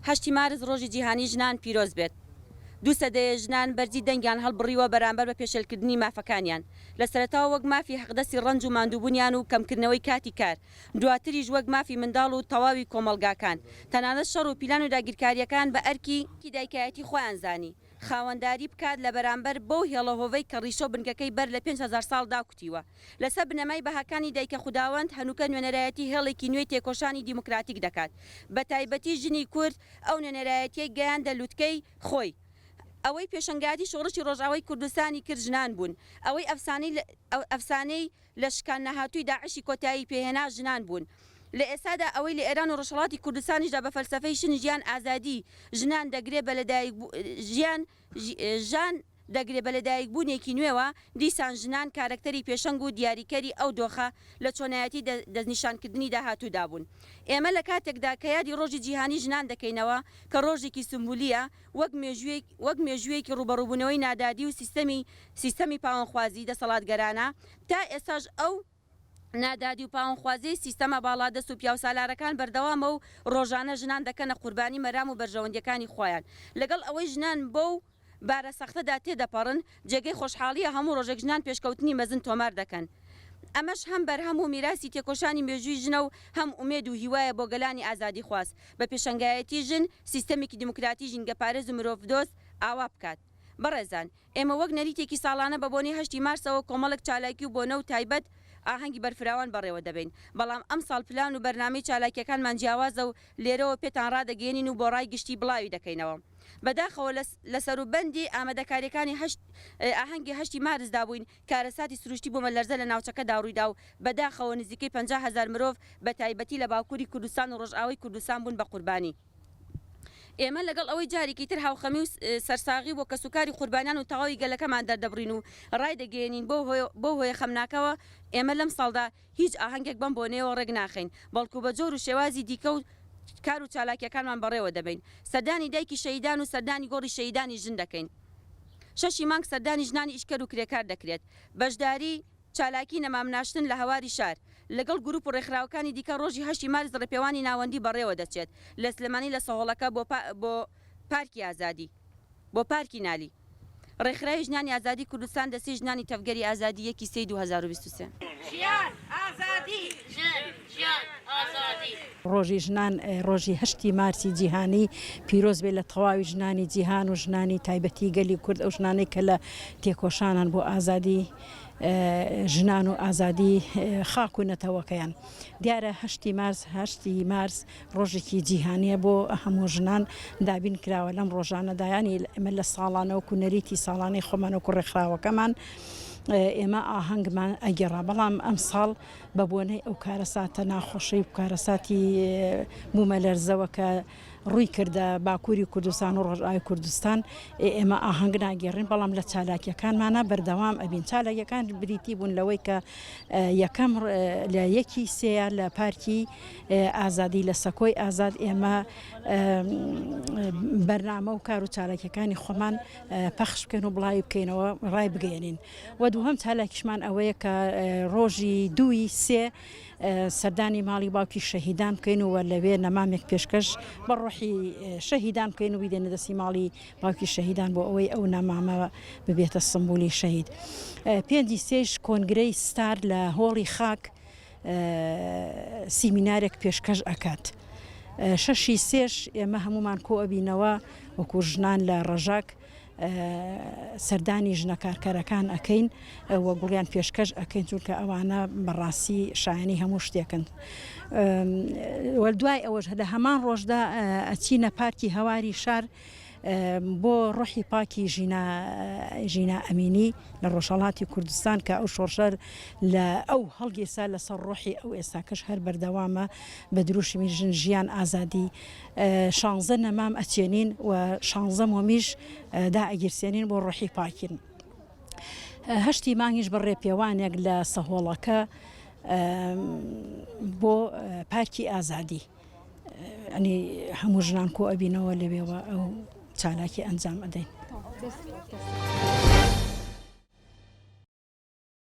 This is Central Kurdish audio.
هەشتی مارس ڕۆژی جیهانی ژنان پیرۆز بێت. دوو سەدەیە ژنان بەرزی دەنگیان هەڵبڕیوە بەرامبەر بە پێشێلکردنی مافەکانیان. لە سەرەتاوە وەک مافی حەقدەستی ڕەنج و ماندووبونیان و کەمکردنەوەی کاتی کار، دواتریش وەک مافی منداڵ و تەواوی کۆمەڵگاکان. تەنانەت شەڕ و پیلان و داگیرکارییەکان بە ئەرکی دایکایەتی خۆیان زانی. خاوەنداری بکات لە بەرامبەر بەو هێڵە هۆڤەی کە ڕیشە و بنکەکەی بەر لە پێنج هەزار ساڵ داکوتیوە. لەسەر بنەمای بەهاکانی دایکە خوداوەند، هەنووکە نوێنەرایەتی هێڵێکی نوێی تێکۆشانی دیموکراتیک دەکات، بەتایبەتی ژنی کورد ئەو نوێنەرایەتیەی گەیاندە لوتکەی خۆی. ئەوەی پێشەنگایەتی شۆڕشی ڕۆژئاوای کوردستانی کرد ژنان بوون، ئەوەی ئەفسانەی لە شکان نەهاتووی داعشی کۆتایی پێهێنا ژنان بوون. لە ئێستادا ئەوەی لە ئێران و ڕۆژهەڵاتی کوردستانیشدا بە فەلسەفەی شن ژیان ئازادی ژنان دەگرێ بە لەدایک ژیان ژان دەگرێ بە لەدایکبوونێکی نوێوە، دیسان ژنان کارەکتەری پێشەنگ و دیاریکەری ئەو دۆخە لە چۆنایەتی دەستنیشانکردنی داهاتوودا بوون. ئێمە لە کاتێکدا کە یادی ڕۆژی جیهانی ژنان دەکەینەوە کە ڕۆژێکی سومبولییە، وەک مێژووێک وەک مێژووێکی ڕووبەڕووبوونەوەی نادادی و سیستەمی سیستەمی پاوەنخوازی دەسەڵاتگەرانە، تا ئێستاش ئەو نادادی و پاوەنخوازیەی سیستەمە باڵادەست و پیاوسالارەکان بەردەوامە و ڕۆژانە ژنان دەکەنە قوربانی مەرام و بەرژەوەندیەکانی خۆیان لەگەڵ ئەوەی ژنان بەو بارە سەختەدا تێدەپەڕن جێگەی خۆشحاڵییە هەموو ڕۆژێک ژنان پێشکەوتنی مەزن تۆمار دەکەن، ئەمەش هەم بەرهەم و میراسی تێکۆشانی مێژووی ژنە و هەم ئومێد و هیوایە بۆ گەلانی ئازادیخواز بە پێشەنگایەتی ژن سیستەمێکی دیموکراتی ژینگەپارێز و مرۆڤدۆست ئاوا بکات. بەڕێزان، ئێمە وەک نەریتێکی ساڵانە بە بۆنەی هەشتی مارسەوە کۆمەڵێک چالاکی و بۆنە و تایبەت ئاهەنگی بەرفراوان بەڕێوە دەبەین، بەڵام ئەمساڵ پلان و بەرنامەی چالاکییەکانمان جیاوازە و لێرەوە پێتان ڕادەگەیەنین و بۆ ڕای گشتی بڵاوی دەکەینەوە. بەداخەوە لە سەروبەندی ئامادەکارییەکانی هەشت ئاهەنگی هەشتی مارسدا بووین، کارەساتی سروشتی بومەلەرزە لە ناوچەکەدا ڕوویدا و بەداخەوە نزیکەی پەنجا هەزار مرۆڤ بە تایبەتی لە باکووری کوردستان و ڕۆژئاوای کوردستان بوون بە قوربانی. ئێمە لەگەڵ ئەوەی جارێکی تر هاوخەمی و سەرساغی بۆ کەسوکاری قوربانیان و تەواوی گەلەکەمان دەردەبڕین و ڕایدەگەیەنین بەو هۆیە خەمناکەوە ئێمە لەمساڵدا هیچ ئاهەنگێک بەم بۆنەیەوە ڕێک ناخەین، بەڵکو بە جۆر و شێوازی دیکە و کار و چالاکییەکانمان بەڕێوە دەبەین. سەردانی دایکی شەهیدان و سەردانی گۆڕی شەهیدانی ژن دەکەین. شەشی مانگ سەردانی ژنانی ئیشکەر و کرێکار دەکرێت. بەشداری چالاکی نەمامناشتن لە هەواری شار، لەگەڵ گروپ و ڕێکخراوەکانی دیکە ڕۆژی هەشتی مارس ڕێپێوانی ناوەندی بەڕێوە دەچێت لە سلێمانی لە سەهۆڵەکە بۆ پارکی ئازادی، بۆ پارکی نالی. ڕێکخراوی ژنانی ئازادی کوردستان دەستەی ژنانی تەڤگەری ئازادی یەکی سێی دوو هەزار و بیست و سێ. ژیان، ئازادی! ژن، ژیان، ئازادی! ڕۆژی ژنان ڕۆژی هەشتی مارسی جیهانی پیرۆز بێت لە تەواوی ژنانی جیهان و ژنانی تایبەتی گەلی کورد ئەو ژنانەی کە لە تێکۆشانان بۆ ئازادی ژنان و ئازادی خاک و نەتەوەکەیان دیارە هەشتی مارس هەشتی مارس ڕۆژێکی جیهانیە بۆ هەموو ژنان دابین کراوە لەم ڕۆژانەدا یانی ئێمە لە ساڵانە وەکو نەریتی ساڵانەی خۆمان وەکو ڕێکخراوەکەمان ئێمە ئاهەنگمان ئەگەڕا بەڵام ئەم ساڵ بە بۆنەی ئەو کارەساتە ناخۆشەی و کارەساتی بوومە لەرزەوە کە ڕووی کردە باکووری کوردستان و ڕۆژئای کوردستان ئێمە ئاهەنگ ناگەڕین بەڵام لە چالاکیەکانمانە بەردەوام ئەبین چالاکیەکان بریتی بوون لەوەی کە یەکەم لە یەکی سێە لە پارکی ئازادی لە سەکۆی ئازاد ئێمە بەرنامە و کار و چالاکیەکانی خۆمان پەخش بکەن و بڵاوی بکەینەوە ڕای بگەێنین و دووهم چالاکیشمان ئەوەیە کە ڕۆژی دووی سێ سەردانی ماڵی باوکی شەهیدان بکەین و لەوێ نەمامێک پێشکەش بە ڕۆحی شەهیدان بکەین و بیدێنە دەستی ماڵی باوکی شەهیدان بۆ ئەوەی ئەو نامامەوە ببێتە سمبولی شەهید پێنجی سێش کۆنگرەی ستار لە هۆڵی خاک سیمینارێک پێشکەش ئەکات شەشی سێش ئێمە هەمومان کۆ ئەبینەوە وەکو ژنان لە ڕەژاک سەردانی ژنە کارکەرەکان ئەەکەین و گوڵیان پێشکەش ئەەکەین چونکە ئەوانە بەڕاستی شایانی هەموو شتێکن دوای ئەوەش هەدا هەمان ڕۆژدا ئەچینە پارکی هەواری شار بۆ ڕۆحی پاکی ژینا ژینا ئەمینی لە ڕۆژهەڵاتی کوردستان کە ئەو شۆڕشە لە ئەو هەڵگیرسا لەسەر ڕۆحی ئەو ئێستاکەش هەر بەردەوامە بە دروشمی ژن ژیان ئازادی شانزە نەمام ئەچێنین و شانزە مۆمیش دا ئەگیرسێنین بۆ ڕۆحی پاکین هەشتی مانگیش بە ڕێپێوانێک لە سەهۆڵەکە بۆ پارکی ئازادی ئەنی هەموو ژنان کۆ ئەبینەوە لەوێوە ئەو چالاکی ئەنجام ئەدەین.